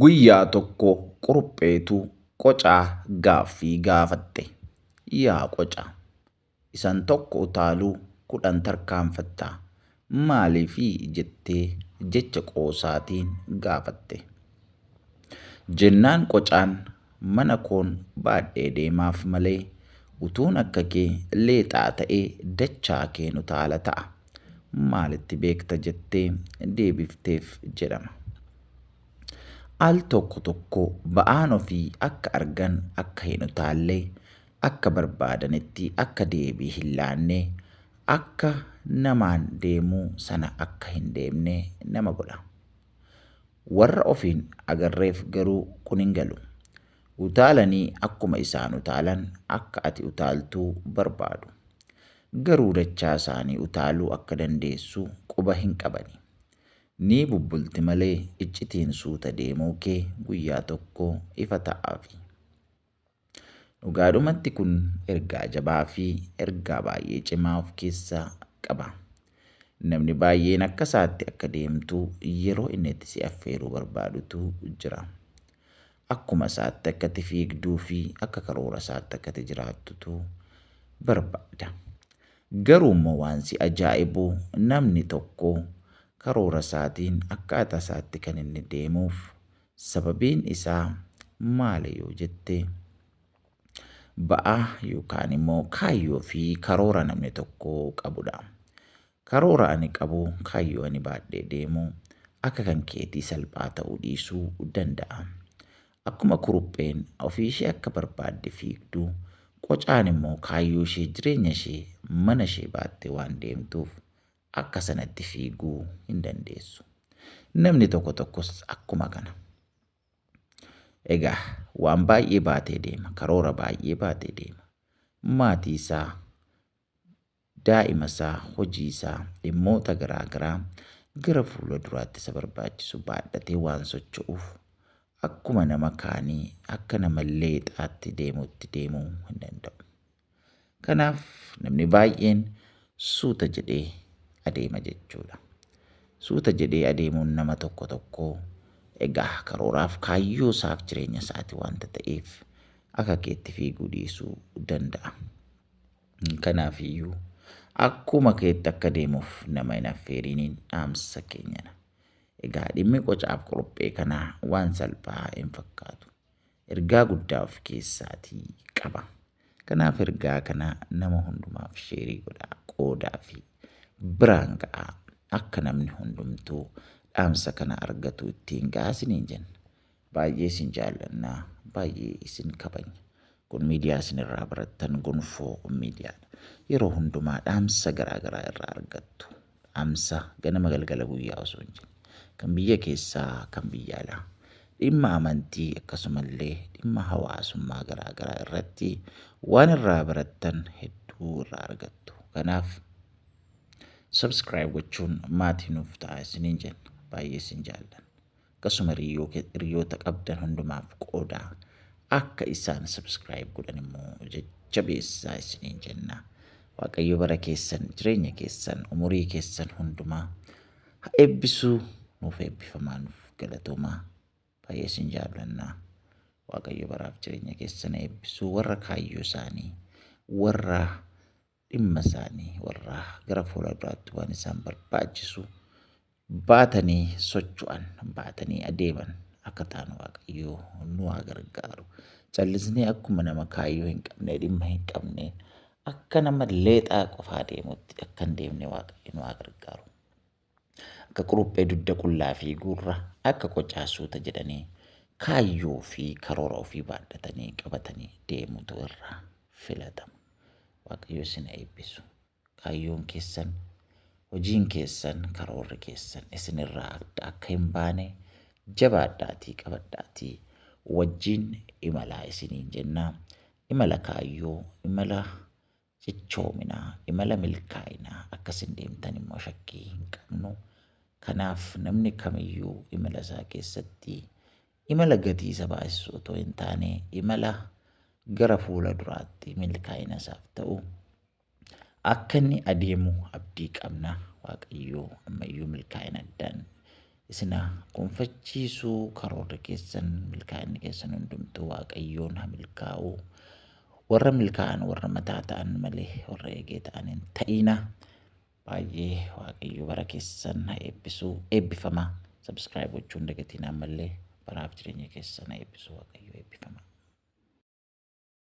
Guyyaa tokko Qurupheetu qocaa gaaffii gaafatte. Yaa qoca! Isan tokko utaaluu kudhan tarkaanfatta. Maaliifi? jettee jecha qoosaatiin gaafatte. Jennaan qocaan mana koon baadhee deemaaf malee utuun akka kee leexaa ta'ee dachaa keen utaala ta'a. Maal itti beekta jettee deebifteef jedhama. Al tokko tokko ba'aan ofii akka argan akka hin utaalle, akka barbaadanitti akka deebii hin laanne, akka namaan deemu sana akka hin deemne nama godha. Warra ofiin agarreef garuu kun hin galu. Utaalanii akkuma isaan utaalan akka ati utaaltu barbaadu. Garuu dachaa isaanii utaaluu akka dandeessu quba hin qabani. Ni bubbulti malee iccitiin suuta deemuu kee guyyaa tokko ifa ta'aafi. Dhugaadhumatti kun ergaa jabaa fi ergaa baay'ee cimaa of keessaa qaba. Namni baay'een akka isaatti akka deemtu yeroo inni itti si affeeruu barbaadutu jira. akkuma isaatti akka itti fiigduu fi akka karoora isaatti akka itti jiraattutu barbaada. Garuu immoo waan si ajaa'ibu namni tokko karoora isaatiin akkaataa isaatti kan inni deemuuf sababiin isaa maali yoo jette ba'aa yookaan immoo kaayyoo fi karoora namni tokko qabudha. Karoora ani qabu, kaayyoo ani baadhee deemu akka kan keetii salphaa ta'uu dhiisuu danda'a. Akkuma kurupheen ofii ishee akka barbaadde fiigdu, qocaan immoo kaayyoo ishee, jireenya ishee, mana ishee baattee waan deemtuuf akka sanatti fiiguu hin dandeessu. Namni tokko tokkos akkuma kana. Egaa waan baay'ee baatee deema, karoora baay'ee baatee deema. Maatii isaa, daa'imasaa, hojiisaa, dhimmoota garaa garaa gara fuula duraatti isa barbaachisu baadhatee waan socho'uuf akkuma nama kaanii akka nama leexaatti deemuutti deemuu hin danda'u. Kanaaf namni baay'een suuta jedhee adeema jechuudha. Suuta jedhee adeemuun nama tokko tokkoo egaa karooraaf kaayyoo isaaf jireenya isaati wanta ta'eef akka keetti fiiguu dhiisuu danda'a. Kanaaf iyyuu akkuma keetti akka deemuuf nama hin affeeriiniin dhaamsa keenyana. Egaa dhimmi qocaaf qorophee kanaa waan salphaa hin fakkaatu. Ergaa guddaa of keessaatii qaba. Kanaaf ergaa kana nama hundumaaf sheerii godhaa qoodaa fi biraan ga'aa akka namni hundumtuu dhaamsa kana argatu ittiin ga'aa isiniin jenna. Baay'ee isin jaallanna, baay'ee isin kabajna. Kun miidiyaa isin irraa barattan gonfoo miidiyaadha. Yeroo hundumaa dhaamsa garaa garaa irraa argattu. Dhaamsa ganama galgala guyyaa osoo hin jenne. Kan biyya keessaa, kan biyya alaa. Dhimma amantii akkasumallee dhimma hawaasummaa garaa garaa irratti waan irraa barattan hedduu irraa argattu. Kanaaf subscribe gochuun maatii nuuf ta'a isiniin jenna. Baay'ee isin jaallanna. Akkasuma hiriyoota qabdan hundumaaf qoodaa. Akka isaan subscribe godhan immoo jajjabeessaa isiniin jenna. Waaqayyo bara keessan, jireenya keessan, umurii keessan hundumaa ha eebbisu nuuf eebbifamaa nuuf galatoomaa. Baay'ee isin jaallannaa. Waaqayyo baraaf jireenya keessan eebbisuu warra kaayyoo isaanii warra dhimma isaanii warra gara fuula duraatti waan isaan barbaachisu baatanii socho'an baatanii adeeman akka taanu waaqayyoo nu haa gargaaru callisnee akkuma nama kaayyoo hin qabne dhimma hin qabne akka nama leexaa qofaa deemutti akka hin deemne waaqayyo nu haa gargaaru. Akka quruphee dugda qullaa fi gurra akka qocaa suuta jedhanii kaayyoo fi karoora ofii baadhatanii qabatanii deemutu irraa filatama. Waaqayyo isin haa eebbisu. Kaayyoon keessan, hojiin keessan, karoorri keessan isin irraa adda akka hin baane jabaadhaatii qabadhaatii wajjin imalaa isiniin jenna. Imala kaayyoo, imala cichoomina, imala milkaa'inaa akka isin deemtan immoo shakkii hin qabnu. Kanaaf namni kamiyyuu imala isaa keessatti imala gatii isa baasisu otoo hin taane imala gara fuula duraatti milkaa'ina isaaf ta'u akka inni adeemu abdii qabna. Waaqayyoo ammayyuu milkaa'ina addaan isin haa gonfachiisu karoorri keessan milkaa'inni keessan hundumtuu waaqayyoon haa milkaa'u warra milkaa'an warra mataa ta'an malee warra eegee ta'an hin ta'iina baay'ee waaqayyo bara keessan haa eebbisuu eebbifama sabskiraayib gochuun dagatiin ammallee baraaf jireenya keessan haa eebbisuu waaqayyo eebbifama.